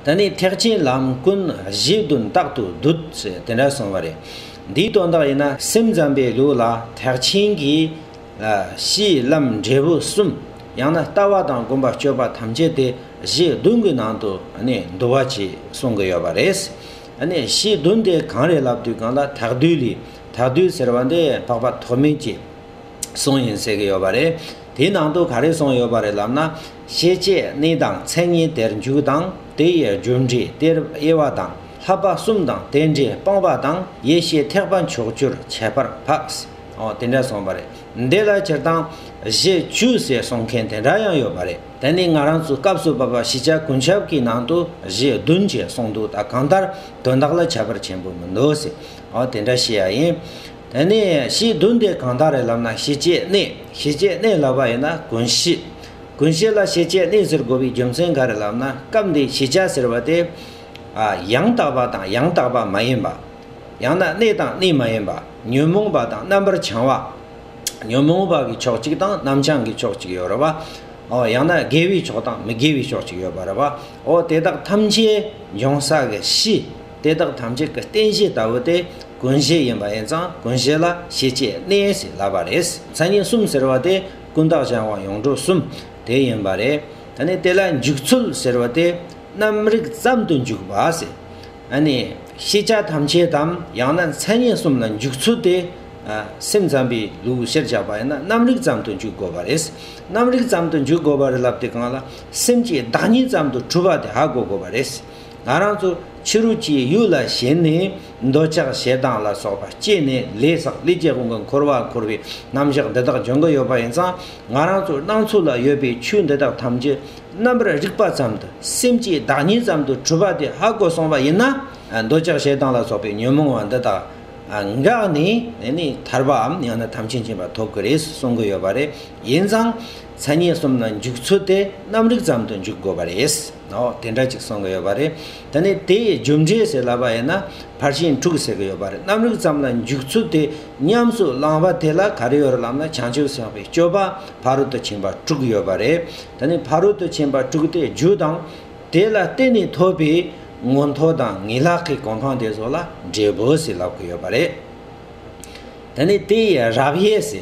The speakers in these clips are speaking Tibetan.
ད་ནི་ཐེག་ཆེན་ལམ་ཀུན་གཞི་དོན་རྟག་ཏུ་སྡུད་ཅེས་དེ་འདྲ་གསུངས་པ་རེད། འདིའི་དོན་དག་ཡིན་ན་སེམས་ཙམ་པའི་ལུགས་ལ་ཐེག་ཆེན་གྱི། གཞི་ལམ་འབྲས་བུ་གསུམ། ཡང་ན་ལྟ་བ་དང་སྒོམ་པ་སྤྱོད་པ་ཐམས་ཅད་དེ་གཞི་བདུན་གྱི་ནང་དུ་འདུ་བ་ཅེས་གསུང་གི་ཡོད་པ་རེད། གཞི་བདུན་དེ་གང་རེད་ལབ་དུས་གང་ལ་དག་སྡུད་ལས་དག་སྡུད་ཟེར་བ་འདི་འཕགས་པ་ཐོགས་མེད་ཀྱིས་གསུངས་ཡིན་ཟེར་གྱི་ཡོད་པ་རེད། དེའི་ནང་དུ་ག་རེ་གསུངས་ཡོད་པ་རེད་ལབ་ན། ཤེས་བྱའི་གནས་དང་མཚན་ཉིད་དེར་འཇུག་དང་དེ་ཡི་རྒྱུ་འབྲས་སྟེར་དབྱེ་བ་དང་ལྷག་པ་གསུམ་དང་དེ་འདྲའི་སྤངས་པ་དང་ཡེ་ཤེས་ཐེག་པ་མཆོག་གྱུར་ཁྱད་པར་འཕགས། འོ་དེ་འདྲ་གསུངས་པ་རེད། འདི་ལ་སྤྱིར་བཏང་གཞི་བཅུ་ཟེར་གསུང་མཁན་དེ་འདྲ་ཡང་ཡོད་པ་རེད། དེ་ནི་ང་རང་ཚོའི་སྐབས་སུ་བབས་པ་ཤེས་བྱ་ཀུན་ཁྱབ་ཀྱི་ནང་དུ་གཞི་བདུན་ཅེས་གསུངས་འདུག་ད་གང་ལྟར་དོན་དག་ལ་ཁྱད་པར་ཆེན་པོ་མི་འདུག་ཟེར། འོ་དེ་འདྲ་ཤེས་ཡ་ཡིན། དེ་ནས་ཞེས་བདུན་ཏེ་གང་དག་རེ་ལབ་ན་ཞེས་བཅད་གནས་ཞེས་བཅད་གནས་ལབ་པ་ཡིན་ན་ཀུན་གཞི། ཀུན་གཞི་ལ་ཞེས་བཅད་གནས་ཟེར་དགོས་པའི་རྒྱུ་མཚན་ག་རེ་ལབ་ན་སྐབས་འདིའི་ཞེས་བྱ་ཟེར་བ་སྟེ། ཡང་དག་པ་དང་ཡང་དག་པ་མ་ཡིན་པ། ཡང་ན་གནས་དང་གནས་མ་ཡིན་པ་ཉོན་མོངས་པ་དང་རྣམ་པར་བྱང་བ། ཉོན་མོངས་པ་གི་ཕྱོགས་གཅིག་དང་རྣམ་བྱང་གི་ཕྱོགས་གཅིག་ཡོད་རེ་བ། ཡང་ན་དགེ་བའི་ཕྱོགས་དང་མི་དགེ་བའི་ཕྱོགས་གཅིག་ཡོད་པ་རེ་བའོ་དེ་དག་ཐམས་ཅད་འབྱུང་ས་གི་གཞི། དེ་དག་ཐམས་ཅད་ཀྱི་རྟེན་གཞི་ལྟ་བུ་སྟེ་ཀུན་གཞི་ཡིན་པ་ཡིན་ཙང་ཀུན་གཞི་ལ་ཤེས་བྱའི་གནས་ཞེས་བསླབ་པ་རེད། མཚན་ཉིད་གསུམ་ཟེར་བ་དེ་ཀུན་བརྟགས་གཞན་དབང་ཡོངས་གྲུབ་གསུམ་དེ་ཡིན་པ་རེད། ད་ནི་དེ་ལ་འཇུག་ཚུལ་ཟེར་བ་དེ་རྣམ་རིག་ཙམ་དུ་འཇུག་པ་ཟེར། ད་ནི་ཤེས་བྱ་ཐམས་ཅད་དམ་ཡང་ན་མཚན་ཉིད་གསུམ་ལ་འཇུག་ཚུལ་དེ། སེམས་ཙམ་པའི་ལུགས་ཕྱིར་བཞག་པ་ཡིན་ན་རྣམ་རིག་ཙམ་དུ་འཇུག་དགོས་པ་རེད། རྣམ་རིག་ཙམ་དུ་འཇུག་དགོས་པར་བསླབ་དེ་གང་ལ་སེམས་ཀྱི་བདག་ཉིད་ཙམ་དུ་གྲུབ་པ་དེ་ཧ་གོ་དགོས་པ་རེད། ང་རང་ཚོ་ཕྱི་རུ་སྐྱེས་ཡུལ་ལ་ཞེན་ནས་འདོད་ཆགས་ཞེ་སྡང་ལ་སོགས་པ་སྐྱེས་ནས་ལས་སག་ལས་སྐྱེ་དགུ་འགའ་འཁོར་བ་འཁོར་བའི་རྣམ་གཞག་འདི་དག་འཇོན་གི་ཡོད་པ་ཡིན་ཙང་ང་རང་ཚོའི་སྣང་ཚུལ་ལ་ཡོད་པའི་ཆོས་འདི་དག་ཐམས་ཅད་རྣམ་པར་རིག་པ་ཙམ་དུ་སེམས་ཀྱི་བདག་ཉིད་ཙམ་དུ་གྲུབ་པ་དེ་ཧ་གོ་སོང་བ་ཡིན་ན་འདོད་ཆགས་ཞེ་སྡང་ལ་སོགས་པའི་ཉོན་མོངས་བ་འདི་དག་འགགས་ནས་ནས་ཐར་པའམ་ཡང་ན་དམ་ཆོས་མཁྱེན་པ་ཐོབ་གི་རེད་གསུང་གི་ཡོད་པ་རེད་ཡིན་ཙང། ཚད་ངེས་གསུམ་ན་འཇུག་ཚུལ་དེ་རྣམ་རིག་ཙམ་དུ་འཇུག་དགོས་པ་རེད། ནོ། དེ་འདྲ་ཅིག་གསུང་གི་ཡོད་པ་རེད། ད་ནི་དེའི་རྒྱུ་འབྲས་ཟེར་ལབ་པ་ཡིན་ན་ཕར་ཕྱིན་དྲུག་ཟེར་གི་ཡོད་པ་རེད་རྣམ་རིག་ཙམ་ལ་འཇུག་ཚུལ་དེ་ཉམས་སུ་བླངས་པ་དེ་ལ་ག་རེ་ཡོད་རེད་ལབ་ན་བྱང་ཆུབ་སེམས་དཔའི་སྤྱོད་པ་ཕ་རོལ་ཏུ་ཕྱིན་པ་དྲུག་ཡོད་པ་རེད། ད་ནི་ཕ་རོལ་ཏུ་ཕྱིན་པ་དྲུག་དེའི་རྒྱུ་དང། དེ་ལ་བརྟེན་ནས་ཐོབ་པའི་མངོན་མཐོ་དང་ངེས་ལག་གི་གོ་འཕང་དེ་སོགས་ལ་འབྲས་བུ་ཟེར་ལབ་ཀི་ཡོད་པ་རེད། དེ་ནས་དེ་ཡི་རབ་དབྱེ་སེ།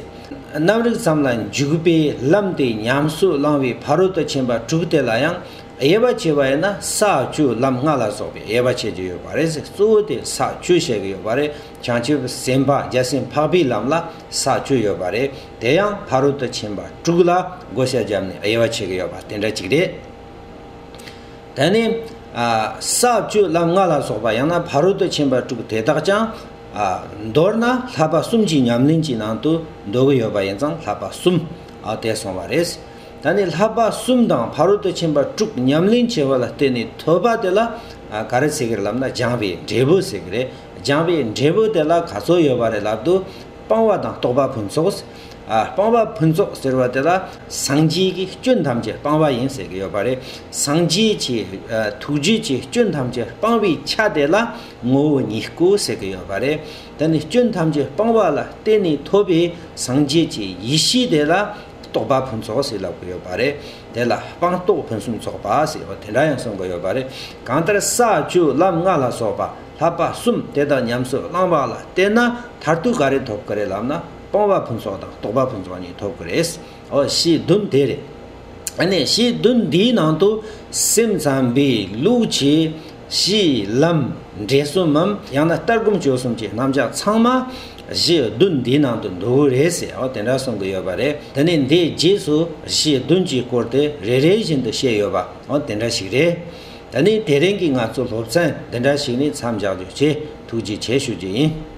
རྣམ་རིག་ཙམ་ལ་འཇུག་པའི་ལམ་དེ་ཉམས་སུ་བླང་བའི་ཕ་རོལ་ཏུ་ཕྱིན་པ་དྲུག་དེ་ལ་ཡང་དབྱེ་བ་ཕྱེ་བ་ཡིན་ན་ས་བཅུ་ལམ་ལྔ་ལ་སོགས་པའི་དབྱེ་བ་ཕྱེ་རྒྱུ་ཡོད་པ་རེད་ཟེར་གཙོ་བོ་དེ་ས་བཅུ་བཤད་ཀྱི་ཡོད་པ་རེད་བྱང་ཆུབ་སེམས་དཔའ་རྒྱལ་སྲིད་འཕགས་པའི་ལམ་ལ་ས་བཅུ་ཡོད་པ་རེད་དེ་ཡང་ཕ་རོལ་ཏུ་ཕྱིན་པ་དྲུག་ལ་བགོ་བཤའ་བརྒྱབ་ནས་དབྱེ་བ་ཕྱེ་གི་ཡོད་པ་དེ་འདྲ་གཅིག་རེད། དེ་ནས། ས་བཅུ་ལམ་ལྔ་ལ་སོགས་པ་ཡང་ན་ཕ་རོལ་ཏུ་ཕྱིན་པ་དྲུག་དེ་དག་ཀྱང། མདོར་ན་ལྷག་པ་གསུམ་གྱི་ཉམས་ལེན་གྱི་ནང་དུ་འདོད་གི་ཡོད་པ་ཡིན་ཙང་ལྷག་པ་གསུམ་དེ་སོང་བ་རེད། ད་ནི་ལྷག་པ་གསུམ་དང་ཕ་རོལ་ཏུ་ཕྱིན་པ་དྲུག་ཉམས་ལེན་བྱེད་པ་ལ་བརྟེན་ནས་ཐོས་པ་དེ་ལ་ག་རེ་ཟེར་གི་ལབ་ན་སྦྱངས་པའི་འབྲས་བུ་ཟེར་གི་རེད། སྦྱངས་པའི་འབྲས་བུ་དེ་ལ་ག་ཚོད་ཡོད་པ་རེད་ལབ་དུས་སྤང་བ་དང་རྟོགས་པ་ཕུན་ཚོགས། སྤང་བ་ཕུན་ཚོགས་ཟེར་བ་དེ་ལ་སངས་རྒྱས་ཀྱི་སྐྱོན་ཐམས་ཅད་སྤང་བ་ཡིན་ཟེར་གི་ཡོད་པ་རེད། སངས་རྒྱས་ཀྱི་ཐུགས་རྗེ་ཀྱི་སྐྱོན་ཐམས་ཅད་སྤང་བའི་ཆ་དེ་ལ་ངོ་བོ་ཉིད་སྐུ་ཟེར་གྱི་ཡོད་པ་རེད། དེ་ནི་སྐྱོན་ཐམས་ཅད་སྤངས་པ་ལ་བརྟེན་ནས་ཐོབ་པའི་སངས་རྒྱས་ཀྱི་ཡེ་ཤེས་དེ་ལ་རྟོགས་པ་ཕུན་ཚོགས་ཟེར་ལབ་ཀྱི་ཡོད་པ་རེད། དེ་ལ་སྤངས་རྟོགས་ཕུན་སུམ་ཚོགས་པ་ཟེར་བ་དེ་འདྲ་ཡང་གསུང་གི་ཡོད་པ་རེད། གང་ལྟར་ས་བཅུ་ལམ་ལྔ་ལ་སོགས་པ་ལྷག་པ་གསུམ་དེ་དག་ཉམས་སུ་བླངས་པ་ལ་བརྟེན་ན་མཐར་ཐུག་ག་རེ་ཐོབ་ཀྱི་རེད་ལབ་ན་སྤངས་པ་ཕུན་ཚོགས་དང་རྟོགས་པ་ཕུན་ཚོགས་གཉིས་ཐོབ་ཀྱི་རེད། འོ་ཞེས་བདུན་དེ་རེད། ཨ་ནས་ཞེས་བདུན་འདིའི་ནང་དུ་སེམས་ཙམ་པའི་ལུགས་ཀྱི། གཞི་ལམ། འབྲས་གསུམ་མམ་ཡང་ན་ལྟར་སྒོམ་སྤྱོད་གསུམ་གྱི་རྣམ་གཞག་ཚང་མ། གཞི་བདུན་འདིའི་ནང་དུ་འདུ་གི་རེད་ཟེར་ཨོ་དེ་འདྲ་གསུང་གི་ཡོད་པ་རེད་དེ་ནས་འདིའི་རྗེས་སུ་གཞི་བདུན་གྱི་སྐོར་དེ་རེ་རེ་བཞིན་དུ་བཤད་ཡོད་པ་ཨོ་དེ་འདྲ་ཞིག་རེད། ད་ནི་དེ་རིང་གི་ང་ཚོ་སློབ་ཚན་འདི་འདྲ་ཞིག་ནས་མཚམས་འཇགས་རྒྱུ་བཅས་ཐུགས་རྗེ་ཆེ་ཞུ་རྒྱུ་ཡིན།